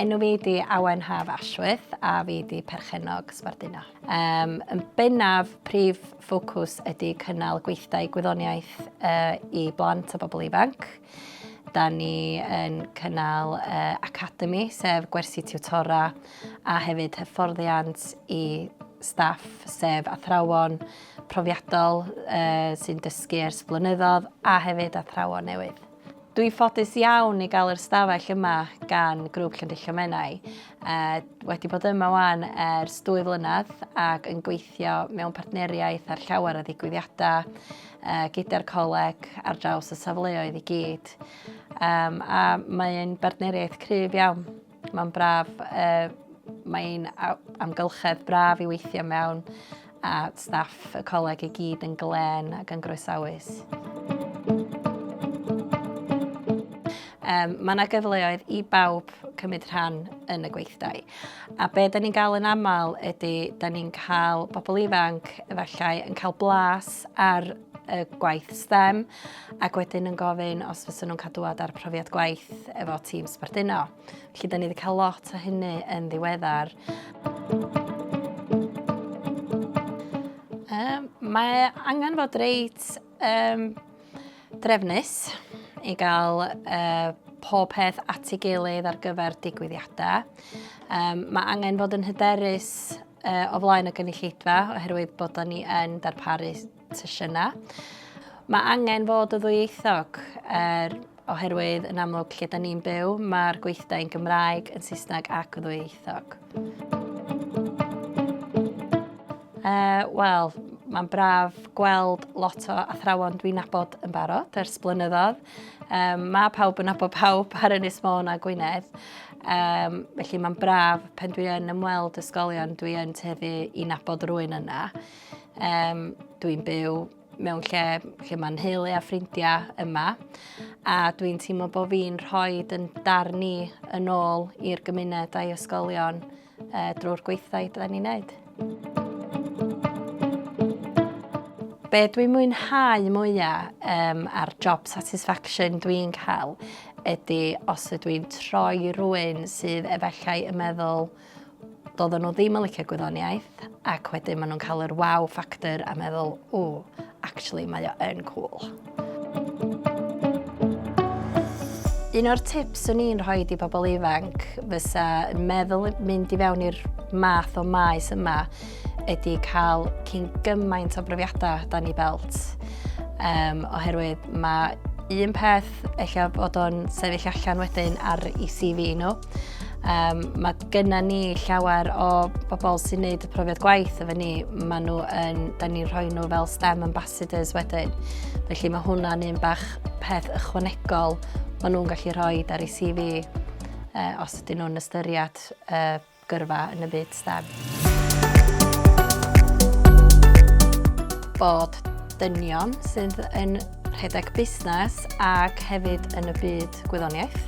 enw fi di Awen Haf Ashworth a fi di perchennog Sbardino. Um, yn bennaf, prif ffocws ydy cynnal gweithdai gwyddoniaeth uh, i blant a bobl ifanc. Da ni yn cynnal uh, academy, sef gwersi tiwtora, a hefyd hyfforddiant i staff sef athrawon profiadol uh, sy'n dysgu ers flynyddoedd a hefyd athrawon newydd. Dwi ffodus iawn i gael yr stafell yma gan grŵp Llandillo Menai. E, wedi bod yma wan ers dwy flynedd ac yn gweithio mewn partneriaeth ar llawer o ddigwyddiadau e, gyda'r coleg ar draws y safleoedd i gyd. Um, a mae'n bartneriaeth cryf iawn. Mae'n braf, uh, mae'n amgylchedd braf i weithio mewn a staff y coleg i gyd yn glen ac yn groesawus. Um, mae yna gyfleoedd i bawb cymryd rhan yn y gweithdai. A be da ni'n gael yn aml ydy, da ni'n cael pobl ifanc efallai yn cael blas ar y gwaith STEM ac wedyn yn gofyn os fysa nhw'n cadw ar profiad gwaith efo tîm Sbarduno. Felly, da ni wedi cael lot o hynny yn ddiweddar. Um, mae angen fod reit um, drefnus i gael uh, pob peth at ei gilydd ar gyfer digwyddiadau. Um, mae angen fod yn hyderus uh, o flaen y gynulleidfa oherwydd bod ni yn darparu sesiynau. Mae angen fod o ddwyieithog er, oherwydd yn amlwg lle da ni'n byw mae'r gweithdai yn Gymraeg, yn Saesneg ac o ddwyieithog. Uh, Wel, mae'n braf gweld lot o athrawon dwi'n nabod yn barod ers blynyddoedd. Um, mae pawb yn nabod pawb ar Ynys Môn a Gwynedd. Um, felly mae'n braf pen dwi yn ymweld ysgolion, dwi yn teddu i nabod rwy'n yna. Um, dwi'n byw mewn lle, lle mae'n heulu a ffrindiau yma. A dwi'n teimlo bod fi'n rhoi yn darn ni yn ôl i'r gymuned a'i ysgolion. uh, drwy'r gweithdai dda ni'n neud. Be dwi'n mwynhau mwyaf um, ar job satisfaction dwi'n cael ydy os ydw i'n troi rwy'n sydd efallai yn meddwl doedden nhw ddim yn licio gwyddoniaeth ac wedyn maen nhw'n cael yr wow factor a meddwl, o, actually mae o yn cool. Un o'r tips o'n i'n rhoi i bobl ifanc fysa yn meddwl mynd i fewn i'r math o maes yma ydy cael cyn gymaint o brofiadau dan i belt. Um, oherwydd mae un peth eich bod o'n sefyll allan wedyn ar ei CV nhw, Um, mae gyna ni llawer o bobl sy'n neud y profiad gwaith efo ni. Mae nhw yn, da ni'n rhoi nhw fel STEM ambassadors wedyn. Felly mae hwnna'n un bach peth ychwanegol mae nhw'n gallu rhoi ar ei CV uh, os ydyn nhw'n ystyried uh, gyrfa yn y byd Stag. Bod dynion sydd yn rhedeg busnes ac hefyd yn y byd gwyddoniaeth.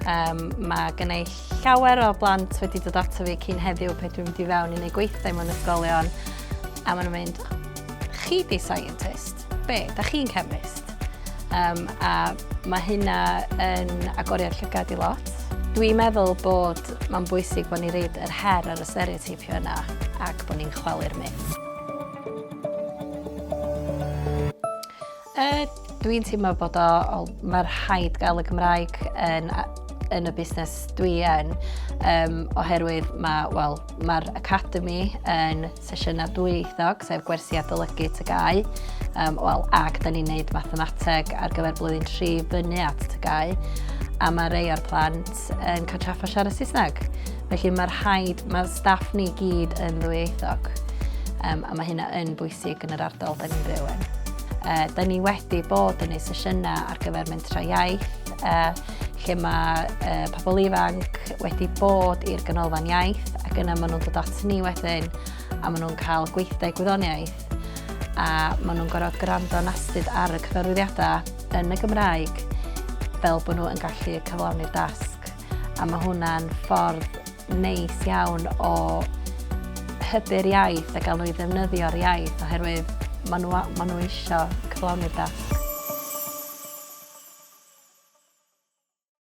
Um, mae gen i llawer o blant wedi dod ato fi cyn heddiw pe dwi'n mynd i fewn i wneud gweithdai mewn ysgolion a maen nhw'n mynd, chi di scientist? Be, da chi'n cemist? Um, a mae hynna yn agoriad llygad i lot. Dwi'n meddwl bod mae'n bwysig bod ni'n reid yr her ar y stereotypio yna ac bod ni'n chwalu'r myth. Uh, Dwi'n teimlo bod o, o mae'r rhaid gael y Gymraeg yn, yn y busnes dwi yn, um, oherwydd mae, well, mae'r Academy yn Sesiynau dwyieithog, sef gwersi adolygu TGAU, um, wel, ac da ni'n neud mathemateg ar gyfer blwyddyn 3 fyny at TGAU, a mae rei o'r plant yn cael traffa siarad Saesneg. Felly mae'r rhaid, mae staff ni gyd yn ddwyieithog, um, a mae hynna yn bwysig yn yr ardal da ni'n byw yn. Uh, da ni wedi bod yn ei sesiynau ar gyfer mentrau iaith, uh, lle mae uh, pobl ifanc wedi bod i'r ganolfan iaith ac yna maen nhw'n dod at ni wedyn a maen nhw'n cael gweithdai gwyddoniaeth a maen nhw'n gorfod gwrando nastud ar y cyfarwyddiadau yn y Gymraeg fel bod nhw yn gallu cyflawni'r dasg a mae hwnna'n ffordd neis iawn o hybu'r iaith a gael nhw i ddefnyddio'r iaith oherwydd maen nhw, ma nhw eisiau cyflawni'r dasg.